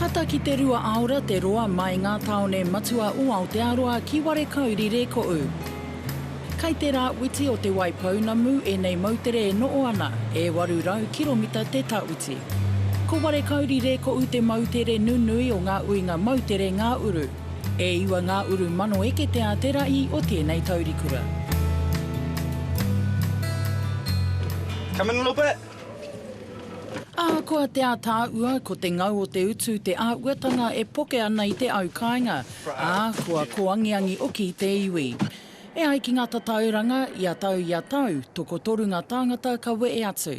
Tata ki te rua aora te roa mai ngā tāone matua o Aotearoa ki Warekauri Rēkoʻu. Kai te rā witi o Te Waipounamu ēnei moutere e noʻo ana, e 800 kiromita te tawiti. Ko Warekauri Rēkoʻu te moutere nunui o ngā uinga moutere ngā uru. E iwa ngā uru mano ekete a te rahi o tēnei taurikura. Come in a little bit. Ahakoa te ātaahua, ko te ngau o te utu te āhuatanga e poke ana i te au kāinga, ā, kua kōangiangi oki te iwi. E ai ki ngā tatauranga, ia tau, ia tau, tokotoru ngā tāngata ka wehe atu.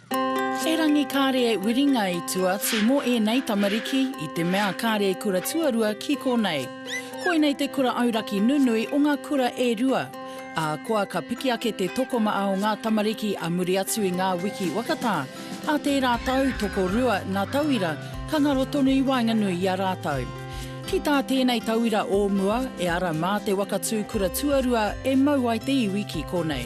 Erangi kāre e wiringa i tua atu mō ēnei tamariki i te mea kāre e kura tuarua ki konei. Koinei te kura auraki nunui o ngā kura e rua. Ahakoa ka piki ake te tokomaa o ngā tamariki a muri atu i ngā wiki wakatā, ā tērā tau tokorua ngā tauira ka ngaro tonu i waenganui i a rātou. Ki tā tēnei tauira o mua, e ara mā te waka tū kura tuarua e mau ai te iwi ki konei.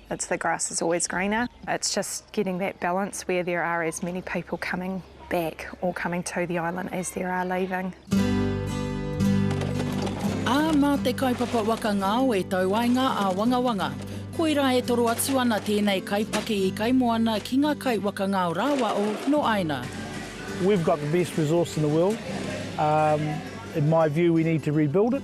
It's the grass is always greener. It's just getting that balance where there are as many people coming back or coming to the island as there are leaving. Ā, mā te kaupapa waka ngao e tau ai ngā āwangawanga. Koirā e toro atu ana tēnei kaipaki i Kaimoana ki ngā kai waka ngao rāwa o nō Aina. We've got the best resource in the world. Um, in my view we need to rebuild it.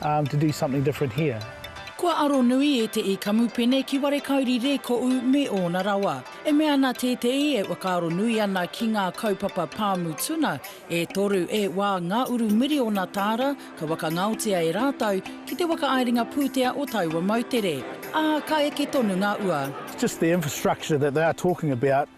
to do something different here. Kua aro nui e Te I Kamupene ki Warekauri Rēkoʻu me ōna rawa. E mea ana tēteī e whakaaro nui ana ki ngā kaupapa pāmu tuna, e toru e wā ngā uru miriona tāra ka wakangaotia e rātou ki te whakaaerenga pūtea o taua moutere, ā, ka eke tonu ngā ua. Just the infrastructure that they are talking about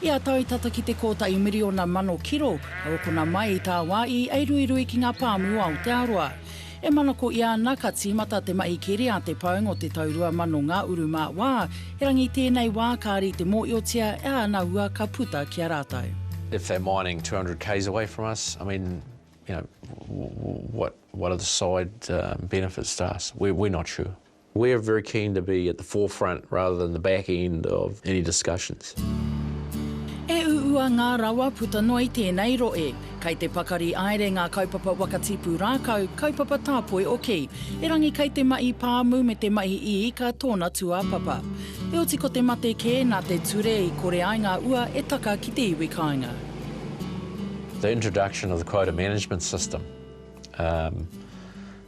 Ia tau tata ki te kōtahi miriona mano kiro ka hokona mai i tāwā i eiruirui ki ngā pāmu o Aotearoa. E manako ia ana ka tīmata te mahi keri a te paunga o te tau 2000 ngā uru mā wā, erangi tēnei wā ka rite mōhiotia e ana hua ka puta ki a rātou. If they're mining 200 k's away from us, I mean, you know, what what are the side benefits to us? We're not sure. We're very keen to be at the forefront rather than the back end of any discussions. E uua ngā rawa puta noa i tēnei rohe. Kei te pakari aere ngā kaupapa waka tipu rākau, kaupapa tāpoi oki. Erangi kei te mahi pāmu me te mahi iika tōna tūāpapa. Eoti ko te mate kē nā te ture i kore ai ngā ua e taka ki te iwi kāinga. The introduction of the quota management system.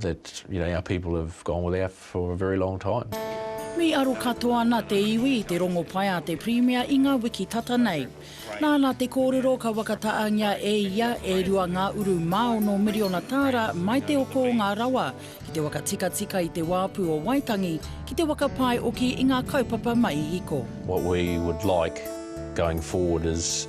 that you know our people have gone without for a very long time. Me aro katoa ana te iwi i te rongopai a te Pirimia i ngā wiki tata nei. Nāna te kōrero ka whakataaangia e ia e rua ngā uru mā ono miriona tāra mai te oko o ngā rawa ki te waka tikatika i te wāpu o Waitangi ki te waka pae oki i ngā kaupapa mai hiko. What we would like going forward is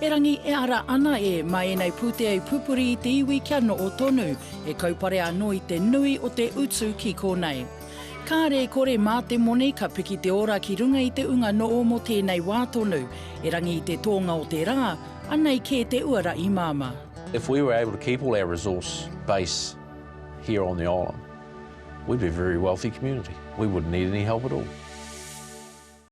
Erangi e ara ana e ma enei putea i pupuri i te iwi kia noo tonu, e kaupare ano i te nui o te utu ki konei. Kaare e kore ma te moni ka piki te ora ki runga i te unga noo mo tenei wa tonu, erangi i te toonga o te ra, anei ke te uara i mama. If we were able to keep all our resource base here on the island, we'd be a very wealthy community. We wouldn't need any help at all.